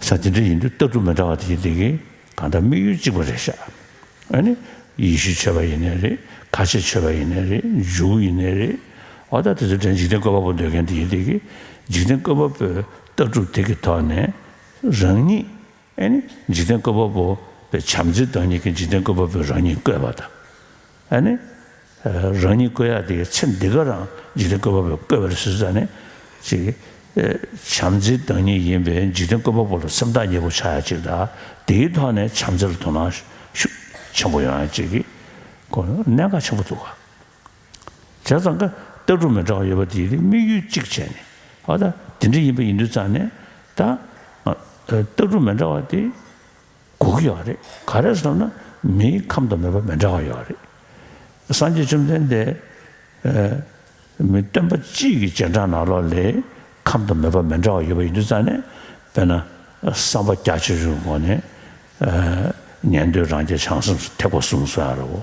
ས་དེ་འདྲ་ཡིན་དུས་ལྟ་གྲུབ་མི་འདྲ་བ་དེ་ཡིན་དེ་གིས་གང་ལྟར་དམིགས་ཡུལ་གཅིག་པ་རེད་ཤག་ཨ་ནི། ཡེ་ཤུ་ཆོས་པ་ཡིན་ནའི་རེད་ཁ་ཆེ་ཆོས་པ་ཡིན་ནའི་རེད་འཇུ་བོ་ཡིན་ནའི་རེད། འོ་ད་དེ་ཚོའི་གྲས་འཇིག་རྟེན་བཀོད་པ་པོ་འདོད་མཁན་དེ་ཡིན་དེ་གིས་འཇིག་རྟེན་བཀོད་པ་པོས་ལྟ་གྲུབ་དེ་གི་ཐོག་ནས་རང་ཉིད། འཇིག་རྟེན་བཀོད་པ་པོ་པའི་བྱམས་བརྩེའི་བདག་ཉིད་ཀྱིས་འཇིག་རྟེན་བཀོད་པ་པོས་རང་ཉིད་བཀོད་པ་དང། རང་ཉིད་བཀོད་ཡག་དེའི་ཚེ་འདི་ག་རང་འཇིག་རྟེན་བཀོད་པ་པོས་བཀོད་པར་བཟོས་ས་ནི། བྱམས་བརྩེའི་བདག་ཉིད་ཡིན་པས་འཇིག་རྟེན་བཀོད་པ་པོ་ལ་སེམས་ཐག་ཉེ་པོ་ཆགས་ཡ་གཅིག་དང་དེའི་ཐོག་ནས་བྱམས་བརྩེ་ལ་དོ་སྣང་ཤུགས་ཆེན་པོ་ཡོང་ཡ་གཅིག་གི་སྐོར་གནད་འགག་ཆེན་པོ་འདུག་ག་བྱས་ཙང་ཀ་སྟག་འབྲུག་མོ་འདྲ་བ་ཡོད་པ་དེའི་དམིགས་ཡུལ་གཅིག་བྱས་ནས་ཨོ་ད་དེ་འདྲ་ཡིན་པ་ཡིན་དུས་ཙང་ནས་ད་སྟག་འབྲུག་མོ་འདྲ་བ་དེ་འགུག་གི་ཡོད་རེད་ག་རེ་སོང་ན་མིའི་ཁམས་དང་མོས་པ་མི་འདྲ་བ་ཡོད་རེད་སངས་རྒྱས་བཅོམ་ལྡན་འདས་མི་སྟོན་པ་གཅིག་གི་རྗེས་འབྲང་ནང་ལོགས་ལས་ཁམས་དང་མོས་པ་མི་འདྲ་བ་ཡོད་པ་ཡིན་དུས་ཙང་ནས་དཔེར་ན་བསམ་པ་རྒྱ་ཆེ་ཆུང་གི་སྒོ་ནས་ཉན་ཐོས་རང་རྒྱལ་བྱང་སེམས་སུ་ཐེག་པ་གསུམ་སོང་ཡང་རེད་བོ།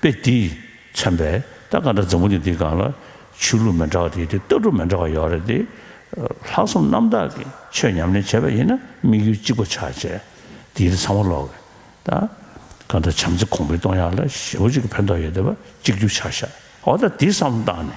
དཔེ་འདིས་མཚོན་པའི་རྟ་སྒང་དང་འཛམ་བུ་ནི་འདི་སྒང་ལ་ཆོས་ལུགས་མི་འདྲ་བ་དེ་ཡོད་དེ་ལྟ་གྲུབ་མི་འདྲ་བ་ཡོད་རེད་དེ། ལྷག་བསམ་རྣམ་དག་གིས་ཆོས་ཉམས་ལེན་བྱས་པ་ཡིན་ན་དམིགས་ཡུལ་གཅིག་པ་ཆགས་རྗེས་དེ་ཡིན་ཚང་མ་ལོག་གི་ད་སྒང་ད་བྱམས་བརྩེ་གོང་འཕེལ་གཏོང་ཡག་ལ་ཞེ་བོ་གཅིག་གི་ཕན་ཐོག་ཡོད་དེ་བ་གཅིག་གྱུར་ཆགས་ཤག་འོ་ད་དེ་བསམ་བཏང་ནས་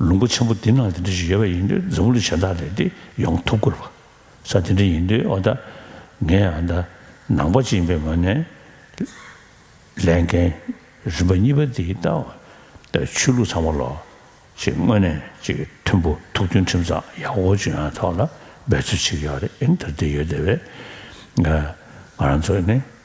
ལུང་པ་ཆེན་པོ་འདི་ན་དེ་འདྲ་ཞིག་ཡོད་པ་ཡིན་དུས་འཛམ་བུ་གླིང་གཞན་དག་ལས་འདི་ཡོང་ཐུབ་དགོས་པ། ས་འདི་འདྲ་ཡིན་དུས་ཨོ་ད། ངས་ཨ་ད། ནང་པ་ཅན་པའི་ངོས་ནས། ལས་འགན། རིམ་པ་གཉིས་པ་འདི་ལྟ་བུ། ཆོས་ལུགས་ཚང་མ་ལོ། ཅིག་དངོས་གནས་ཅིག་མཐུན་པོ་ཐུགས་མཐུན་ཁྲིམས་གཙང་ཡག་པོ་བཅུ་ཡང་ཐོག་ལ་འབད་རྩོལ་བྱེད་ཀྱི་ཡོད་རེད་ཨིན་དར་དེ་ཡོད་དེ་བས། ང་རང་ཚོ་ནི།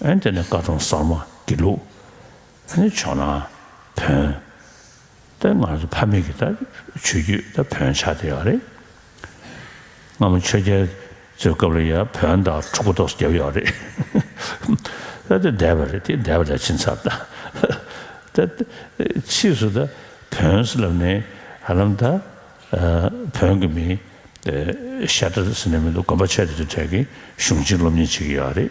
ཨན་དེ་ནས་བཀའ་གྲོང་གསར་མ་དགེ་ལུགས་ནི་ཆོག་ན་བོན། ད་ང་ཚོ་ཕ་མེས་ཀྱི་ད་ཆོས་རྒྱུད་ད་བོན་ཆགས་བསྡད་ཡོག་རེད། སྔ་མོ་ཆོས་རྒྱལ་ཚོའི་སྐབས་ལ་ཡང་བོན་དང་ཕྲུ་གུ་ཏོག་བརྒྱབ་ཡོག་རེད། ད་དེ་བསྡད་པ་རེད་དེ་བསྡད་པ་ད་ཕྱིན་ཚར་ད། ད་ཕྱིས་སུ་ད་བོན་ཟེར་ལབ་ནས་ཧ་ལམ་ད་བོན་གྱི་མིང་ཤ་ཏྲ་ཟེར་ནས་མི་འདུག་གོམ་པ་ཆད་དེ་ཚོའི་གྲས་ཀྱི་གཞུང་གཅིག་སློབ་གཉེར་བྱེད་ཀྱི་ཡོག་རེད།